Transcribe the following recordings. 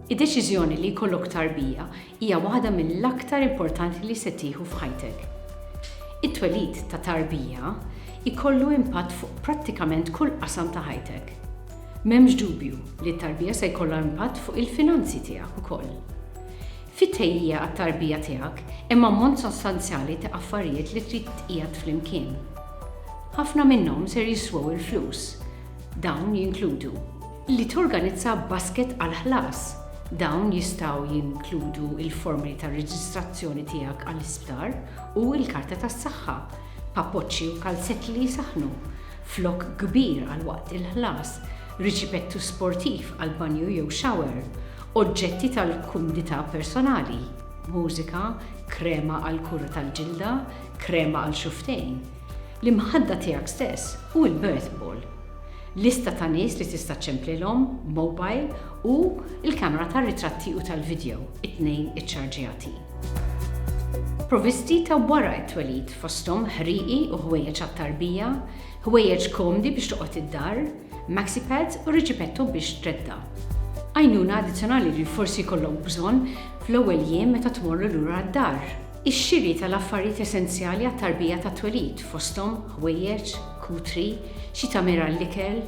Id-deċiżjoni li jkollok tarbija hija waħda mill-aktar importanti li se tieħu f'ħajtek. It-twelid ta' tarbija jkollu impatt fuq prattikament kull qasam ta' ħajtek. M'hemmx dubju li t-tarbija se jkollha impatt fuq il-finanzi tiegħek ukoll. fit-tħejjija għat-tarbija tiegħek hemm ammont sostanzjali ta' affarijiet li trid tqiegħed flimkien. Ħafna minnhom ser jiswew il-flus. Dawn jinkludu. Li torganizza basket għall-ħlas. Dawn jistgħu jinkludu l-formoli tar-reġistrazzjoni tiegħek għall-isptar u l-karta tas-saħħa, papoċċi u kalzetti li jsaħħnu, flokk kbir għal waqt il-ħlas, riċipettu sportiv għall-banju jew shower, oġġetti tal-kumdità personali, mużika, krema għall-kura tal-ġilda, krema għal xufftejn, l-imħadda tiegħek stess u l-birth ball. Lista ta' nies li tista' ċċemplilhom, mobile u l-kamera tar-ritratti u tal-vidjow, it-tnejn iċċarġjati. Provvisti ta' wara t-twelid fosthom ħrieqi u ħwejjeġ għat-tarbija, Ħwejjeġ komdi biex toqgħod id-dar, maxi pads u riġipetto biex tredda. Għajnuna addizzjonali li forsi jkollok bżonn fl-ewwel jiem meta tmorru lura għad-dar. Ix-xiri tal-affarijiet essenzjali għat-tarbija tat-twelid, fosthom ħwejjeġ, kutri, xi tagħmir għall-ikel.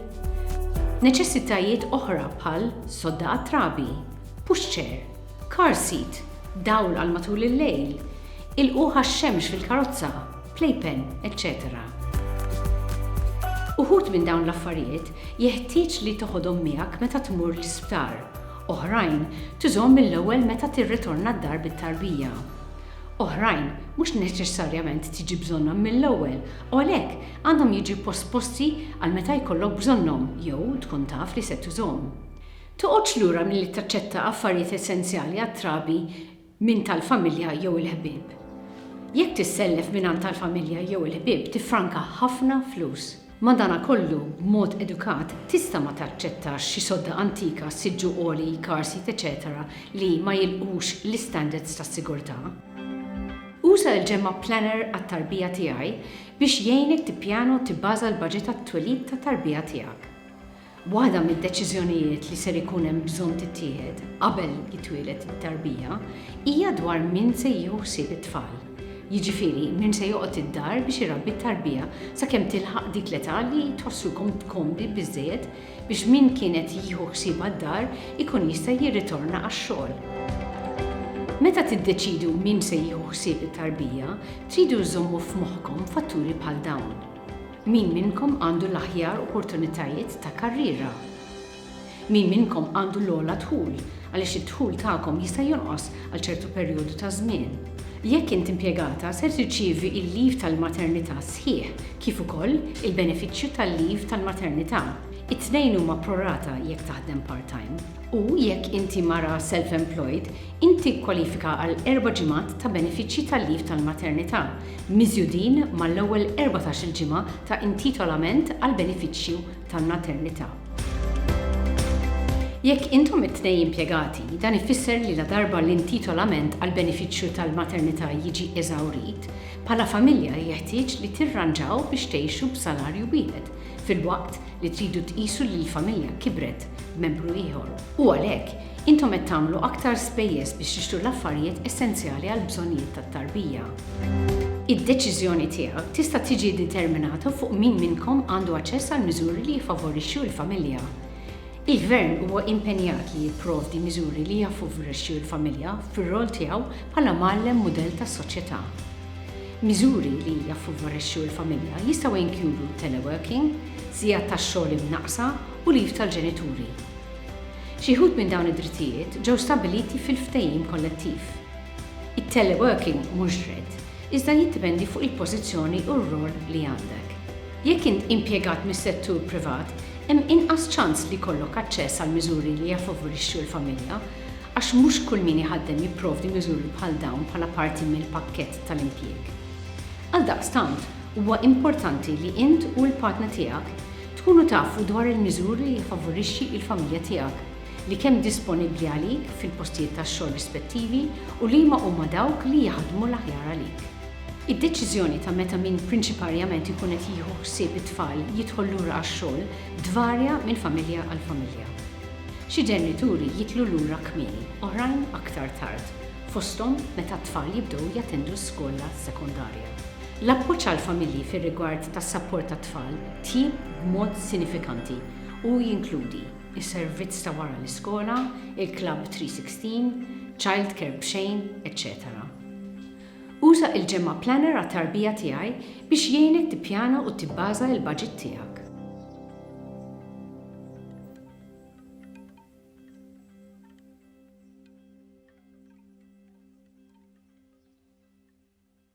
Neċessitajiet oħra bħal sodda għat-trabi, push chair, car seat, dawl għal matul il-lejl, ilqugħ għax-xemx fil-karozza, playpen, eċċetera Uħud minn dawn l-affarijiet jeħtieġ li toħodhom miegħek meta tmur l-isptar, oħrajn tużhom mill-ewwel meta tirritorna d-dar bit-tarbija. Oħrajn mhux neċessarjament tiġi bżonnhom mill-ewwel u għalhekk għandhom jiġu posposti għal meta jkollok bżonnhom jew tkun taf li se tużhom. Toqgħodx lura milli taċċetta affarijiet essenzjali għat-trabi minn tal-familja jew il-ħbieb. Jekk tissellef mingħand tal-familja jew il-ħbieb tiffranka ħafna flus. Madanakollu, b'mod edukat, tista' ma taċċettax xi sodda antika, siġġu għoli, car seat eċetera li ma jilqux l-istandards tas-sigurtà. Uża l-Ġemgħa Planner għat-Tarbija Tiegħi biex jgħinek tippjana u tibbaża l-baġit għat-twelid tat-tarbija tiegħek. Waħda mid-deċiżjonijiet li ser ikun hemm bżonn tittieħed qabel jitwieled it-tarbija hija dwar min se jieħu ħsieb it-tfal. Jiġifieri min se joqgħod id-dar biex irabbi t-tarbija sakemm tilħaq dik l-età li tħossukom komdi biżżejjed biex min kien qed jieħu ħsiebha d-dar ikun jista' jirritorna għax-xogħol. Meta tiddeċidu min se jieħu ħsieb it-tarbija, tridu żżommu f'moħħkom fatturi bħal dawn. Min minnkom għandu l-aħjar opportunitajiet ta' karriera? Min minnkom għandu l-ogħla dħul għaliex id-dħul tagħkom jista' jonqos għal ċertu perjodu ta' żmien? Jekk int impjegata ser tirċievi l-leave tal-maternità sħiħ kif ukoll il-benefiċċju tal-leave tal-maternità. It-tnejn huma pro rata jekk taħdem part-time. U jekk inti mara self-employed, int tikkwalifika għal erba' ġimgħat ta' benefiċċji tal-leave tal-maternità miżjudin mal-ewwel erbatax-il ġimgħa ta' intitolament għall-benefiċċju tal-maternità. Jekk intom it-tnejn impjegati, dan ifisser li ladarba l-intitolament għall-benefiċċju tal-maternità jiġi eżawrit, bħala familja jeħtieġ li tirranġaw biex tgħixu b'salarju wieħed, filwaqt li tridu tqisu li l-familja kibret b'membru ieħor, u għalhekk, Intom qed tagħmlu aktar spejjeż biex tixtru l-affarijiet essenzjali għall-bżonnijiet tat-tarbija. Id-deċiżjoni tiegħek tista' tiġi ddeterminata fuq min minnkom għandu aċċess għal miżuri li jiffavorixxu l-familja. Il-Gvern huwa impenjat li jipprovdi miżuri li jaffavorixxu l-familja fir-rol tiegħu bħala mgħallem mudell tas-soċjetà. Miżuri li jaffavorixxu l-familja jistgħu jinkludu teleworking, sigħat tax-xogħol imnaqqsa u leave tal-ġenituri. Xi wħud minn dawn id-drittijiet ġew stabbiliti fil-ftehim kollettiv. It-teleworking mhux dritt, iżda jiddependi fuq il-pożizzjoni u r-rwol li għandek. Jekk int impjegat mis-settur privat, hemm inqas ċans li jkollok aċċess għal miżuri li jaffavorixxu l-familja, għax mhux kull min iħaddem jipprovdi miżuri bħal dawn bħala parti mill-pakkett tal-impjieg. Għaldaqstant, huwa importanti li int u l-partner tiegħek Tkunu tafu dwar il-miżuri li jiffavorixxi il-familja tiegħek, li kemm disponibbli għalik fil-postijiet tax-xogħol rispettivi u liema huma dawk li jaħdmu l-aħjar għalik. Id-deċiżjoni ta' meta min prinċiparjament ikun qed jieħu ħsieb it-tfal jidħol lura għax-xogħol tvarja minn familja għal familja. Xi ġenituri jidħlu lura kmieni, oħrajn aktar tard, fosthom meta t-tfal jibdew jattendu s-skola sekondarja. L-appoġġ għall-familji fir-rigward tas-sapport tat-tfal tjib b'mod sinifikanti u jinkludi s-servizz ta' wara l-iskola, il-klabb 316, childcare b'xejn, eċċetera Uża il-Ġemgħa Planner għat-tarbija tiegħi biex jgħinek tippjana u tibbaża il-baġit tiegħek.